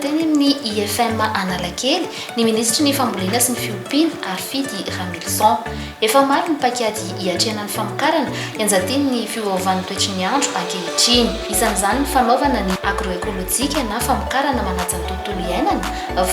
Teny amin'ny IFM Analakely ny minisitry ny Fambolena sy ny Fiompiana, Harifidy Ramilison. Efa maro ny paikady hiatrehana ny famokarana, ianjadian'ny fiovaovan'ny toetry ny andro ankehitriny. Isan'izany ny fanaovana ny agroekolojika na famokarana manaja ny tontolo iainana,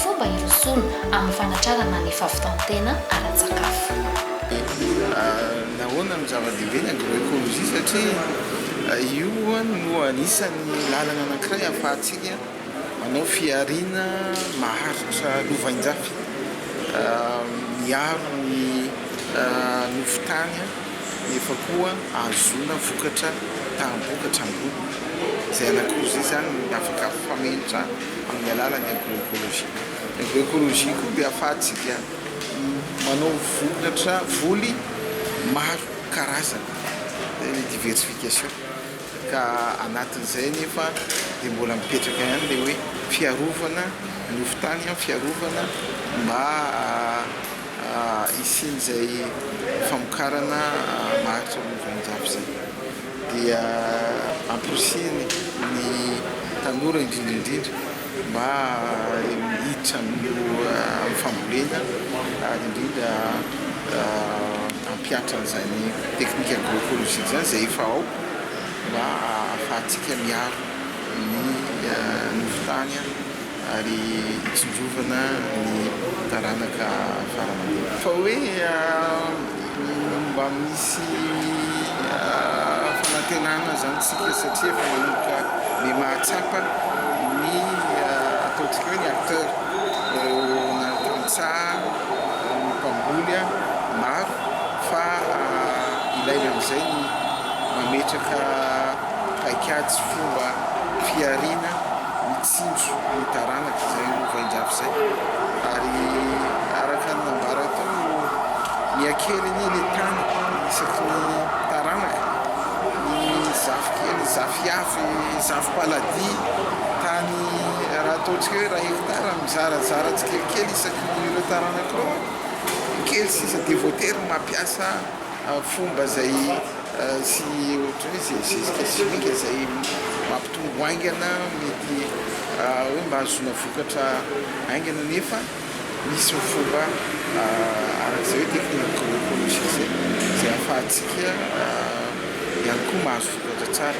fomba hirosoana amin'ny fanatrarana ny fahavitan-tena ara-tsakafo. Nahoana no zava-dehibe ny agroekolojia? Satria io no anisan'ny lalana anankiray ahafahantsika Manao fihariana maharitra lovainjafy miaro ny nofon-tany nefa koa ahazoana vokatra taham-bokatra ambony izay anankiroa izay izany no afaka mifamenitra amin'ny alalan'ny agro-ecologie. Ny agro-ecologie koa dia ahafahantsika manao vokatra, voly maro karazana, izay ilay diversification. ka anatin'izay anefa dia mbola mipetraka ihany ilay hoe fiarovana ny hofon-tany, fiarovana mba hisian'izay famokarana maharitra amin'ny vaninjafy izay, dia amporisihina ny tanora indrindra indrindra. mba hiditra amin'ny fambolena ary indrindra hampihatra an'izany teknika agroekolojiaka izany izay efa ao mba hahafahantsika miaro ny nofon-tany ary hitsinjovana ny taranaka fara mandimby. Fa hoe Mba misy fanantenana izany isika satria efa manomboka be mahatsapa ny ataontsika hoe ny acteurs, na ny tantsaha, na ny mpamboly maro fa ilaina amin'izay ny mametraka paikady sy fomba fihariana. tsinjo ny taranaka izay lovain-jafy izay ary araka ny nambara teo no miha-kely anie le tany isaky ny taranaka ny zafy kely zafy avy zafy paladia tany raha ataontsika hoe iray hectare mizarazara tsikelikely isaky ny ireo taranaka ireo kely sisa dia voatery mampiasa fomba izay sy ohatran'ny hoe izay zezika sy finga izay mampitombo haingana mety hoe mba hahazoana vokatra haingana nefa misy ny fomba arak'izay hoe technique agroecologique izay izay ahafahantsika ihany koa mahazo vokatra tsara.